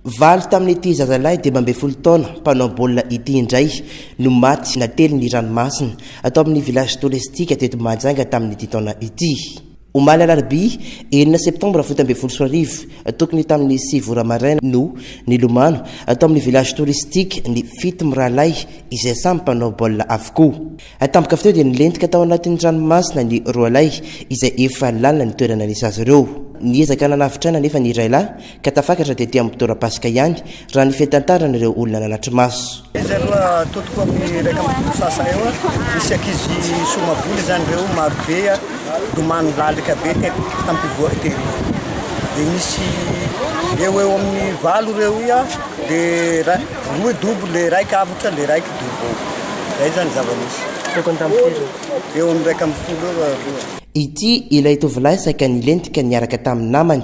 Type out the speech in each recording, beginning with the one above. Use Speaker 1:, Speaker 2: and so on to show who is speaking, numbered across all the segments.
Speaker 1: Valo tamin'ity zazalahy dimy ambin'ny folo taona mpanao baolina ity indray no maty natelin'ny ranomasina tao amin'ny Village Touristique teto Mahajanga tamin'ity taona ity. Omaly alarobia enina septambra fito ambin'ny folo sy roa arivo tokony tamin'ny sivy ora maraina no nilomano tao amin'ny Village Touristique ny fito mirahalahy izay samy mpanao baolina avokoa. Tampoka avy teo dia nilentika tao anatin'ny ranomasina ny roalahy izay efa lalina ny toerana nisy azy ireo. Niezaka nanavotra aina anefa ny iray lahy Ka tafakatra tety amin'ny torapasika ihany, raha ny fitantaran'ireo olona nanatri-maso. Izy aloha
Speaker 2: totoko amin'ny iraika amby folo sasa eo, nisy ankizy somavola izany ireo marobe nilomano lalika be tety tampivory tery. Dia nisy eo eo amin'ny valo ireo ia, dia ra- roa dobo, le raika avotra, le raika dobo eo. Zay izany zava-nisy. Tokony tamin'ny firy io? Eo amin'ny iraika amby folo eo aloha. Ity ilay
Speaker 1: tovolahy saika nilentika niaraka tamin'ny namany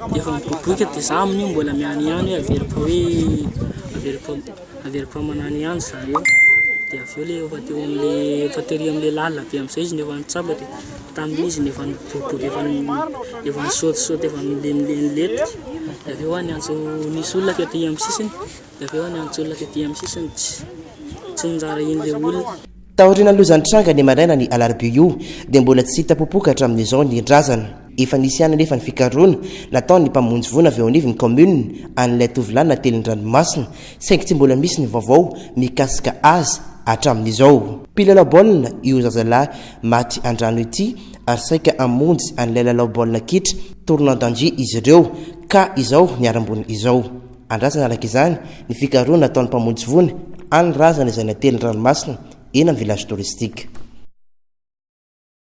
Speaker 3: Efa miboiboika de za amin'io mbola miany ihany hoe averiko hoe averiko averiko aman'any ihany zareo de avy eo le efa teo am'le efa tery am'le lalina be am'zay izy no efa nitsapa de tamin'io izy no efa niboiboika efa ni- efa nisaotisaoty efa nilemilemy letika de avy eo hoa niantso nisy olona kay taia am'sisiny Avy eo niantso olona tety amin'ny sisiny tsy niraharaha iny ilay olona. Taorian'ny lozan-tranga
Speaker 1: ny maraina ny alarobia io dia mbola tsy hita popoka hatramin'izao ny razana. Efa nisy ihany anefa ny fikarohana nataon'ny mpamonjy voina avy eo anivon'ny kaominina an'ilay tovolahy natelin-dranomasina saingy tsy mbola misy ny vaovao mikasika azy hatramin'izao. Mpilalao baolina io zazalahy maty an-drano ity ary saika hamonjy an'ilay lalao baolina kitra, tournoi d'Anjy, izy ireo ka izao ny haram-boina izao. Andrasana araka izany ny fikarohana ataon'ny mpamonjy voina any Razana izay natelin'ny ranomasina eny amin'ny village touristique.